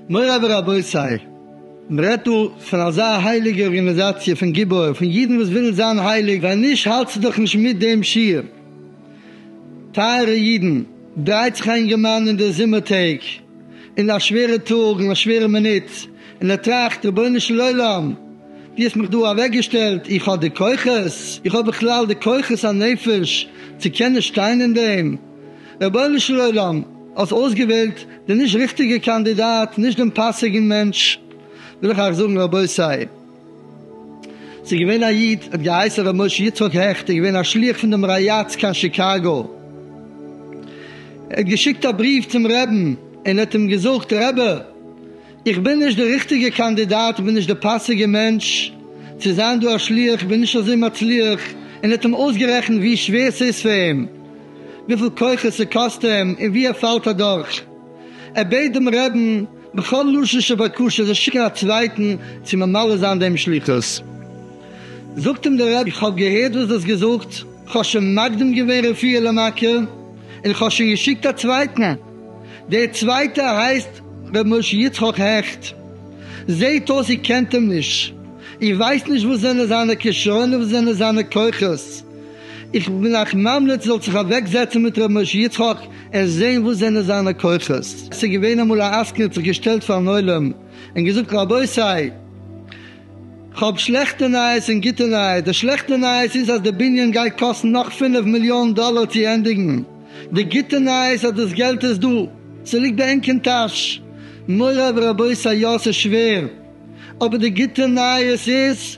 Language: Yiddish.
מוריי ורבותיי, מען רעדט דא פון אזא הייליגע ארגאניזאציע פון גיבור, פון אידן וואס ווילן זיין הייליג, ווען נישט האלטסטו דאך נישט מיט דעם שיעור. טייערע אידן, דרייט זיך א אינגערמאן אין די זומער טעג, אין א שווערע טאג אין א שווערע מינוט אין ער טראכט רבונו של עולם דו האסט מיך דא אוועק געשטעלט איך האב די כוחות איך האב בכלל די כוחות הנפש צו קענען שטיין אין דעם רבונו של עולם האסט אויסגעוועלט די נישט ריכטיגע קאנדידאט נישט דעם פאסיגן מענטש וויל איך אייך זאגן רבותי. ס'איז געווען א איד האט געהייסן ר' משה יצחק העכט, ער איז געווען א שליח פון דעם רייאץ קיין שיקאגא, ער האט געשיקט א בריוו צום רעבן און האט אים געזאגט, רבי איך בין נישט די ריכטיגע קאנדידאט, איך בין נישט די פאסיגע מענטש צו זיין דא א שליח, איך בין נישט אזוי מצליח, און האט אים אויסגערעכנט ווי שווער ס'איז פאר אים, וויפיל כוחות ס'קאסט אים און ווי ער פאלט אדורך. ער בעט דעם רעבן בכל לשון של בקשה ער זאל שיקן א צווייטן צו ממלא זיין דעם שליחות, זאגט אים דער רבי, איך האב געהערט וואס דו האסט געזאגט, איך האב שוין מקדים געווען רפואה למכה, און איך האב שוין געשיקט א צווייטן, דער צווייטער הייסט ר' משה יצחק העכט, זעט אויס איר קענט אים נישט, איר ווייסט נישט וואס זענען זיינע כשרונות, וואס זענען זיינע כוחות, איך בין אייך ממליץ זאלט זיך אוועק זעצן מיט ר' משה יצחק, ער זעהן וואס זענען זיינע כוחות. עס איז געווען אמאל א עסקן האט זיך געשטעלט פארן עולם און געזאגט רבותי כ'האב שלעכטע נייעס און גוטע נייעס, די שלעכטע נייעס איז אז די בנין גייט קאסטן נאך פֿינף מיליאן דאלער צו ענדיגן, די גוטע נייעס אז דאס געלט איז דא, ס'ליגט ביי ענק אין טאש, מוריי ורבותי יא ס'איז שווער אבער די גוטע נייעס איז.